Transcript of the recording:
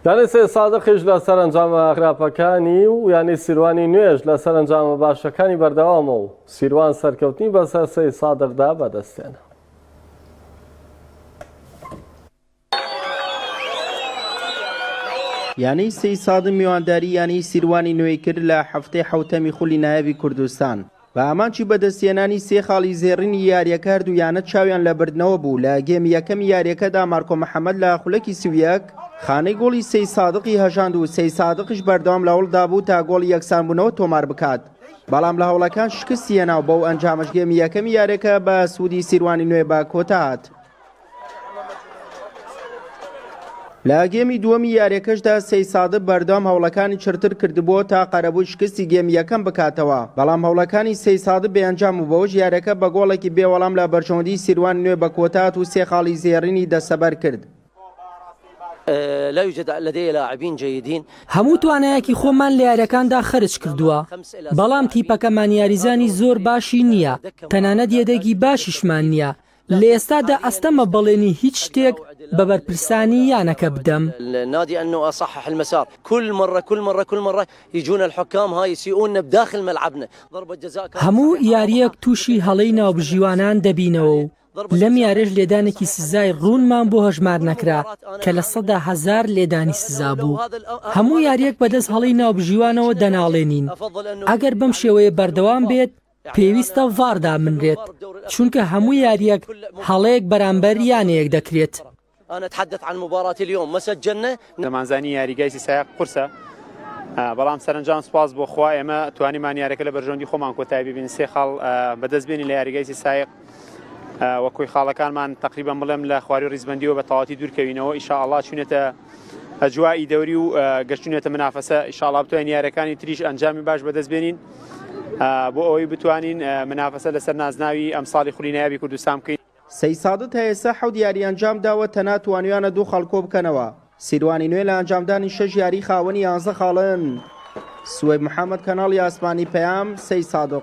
یانەی سەید سادقیش لە سەرەنجامە خراپەکانی و یانەی سیروانی نوێژ لە سەرەنجامە باشەکانی بەردەوامە و سیروان سەرکەوتنی بەسەر سەید سادقدا بەدەستێنا. یانەی سەیسادق میوانداری یانەی سیروانی نوێی کرد لە هەفتەی حەوتەمی خولی نایابی کوردستان، بە ئامانجی بەدەستهێنانی سێ خاڵی زێڕینی یارییەکە هەردوو یانە چاویان لە بردنەوە بوو، لە گێمی یەکەمی یارییەکەدا مارکۆ محەمەد لە خولەکی سی و یەک خانەی گۆڵی سەید سادقی هەژاند و سەید سادقیش بەردەوام لە هەوڵدا بوو تا گۆڵی یەکسانبوونەوە تۆمار بکات، بەڵام لە هەوڵەکان شکستی هێنا و بەو ئەنجامەش گێمی یەکەمی یارییەکە بە سوودی سیروانی نوێ بە کۆتا هات. لە گێمی دووەمی یاریەکەشدا سەی سادە بەردەوام هەوڵەکانی چرتر کردبووە تا قەرەبووی شکستی گێمی یەکەم بکاتەوە بەڵام هەوڵەکانی سەی سادە بێنجام و بەوەش یاریەکە بە گۆڵێکی بێوەڵام لە بەرژەوەندی سیروان نوێ بە کۆتات و سێ خاڵی زێڕینی دەستەبەر کرد. لا يوجد لدي لاعبين جيدين هەموو توانایەکی خۆمان لە یاریەکاندا خەرج کردووە بەڵام تیپەکەمان یاریزانی زۆر باشی نییە تەنانەت یەدەگی باشیشمان نییە لە ئێستادا ئەستەمە بەڵێنی هیچ شتێک بە بەرپرسانی یانەکە بدەم. هەموو یارییەک تووشی هەڵەی ناوبژیوانان دەبینەوە و لەم یارییەش لێدانێکی سزای ڕوونمان بۆ هەژمار نەکرا کە لە سەدا هەزار لێدانی سزا بوو. هەموو یارییەک بەدەست هەڵەی ناوبژیوانەوە دەناڵێنین. ئەگەر بەم شێوەیە بەردەوام بێت، پێویستە ڤار دابنرێت چونکە هەموو یاریەک هەڵەیەک بەرامبەر یانەیەک دەکرێت. دەمانزانی یاریگای سیساق قورسە بەڵام سەرەنجام سوپاس بۆ خوا ئێمە توانیمان یارەکە لە بەرژەوەندی خۆمان کۆتای ببین سێ خاڵ بەدەست بێنی لە یاریگای سیسایق وە کۆی خاڵەکانمان تقریبا بڵێم لە خواری ڕیزبندیەوە بە تەواتی دوورکەوینەوە ئیشاء اللە چونێتە ئەجوائی دەوری و گەشتونێتە منافەسە ئیشاڵا بتوانین یارەکانی تریش ئەنجامی باش بەدەست بێنین بۆ ئەوەی بتوانین منافەسە لەسەر نازناوی ئەمساڵی خولی نایابی کوردستان بکەین. سەیسادت تا ئێستا حەوت یاری ئەنجام داوە تەنها توانیویانە دوو خاڵ کۆبکەنەوە، سیروانی نوێ لە ئەنجامدانی شەش یاری خاوەنی یانزە خاڵن. سوەیب محەمەد کەناڵی ئاسمانی پەیام، سەیسادق.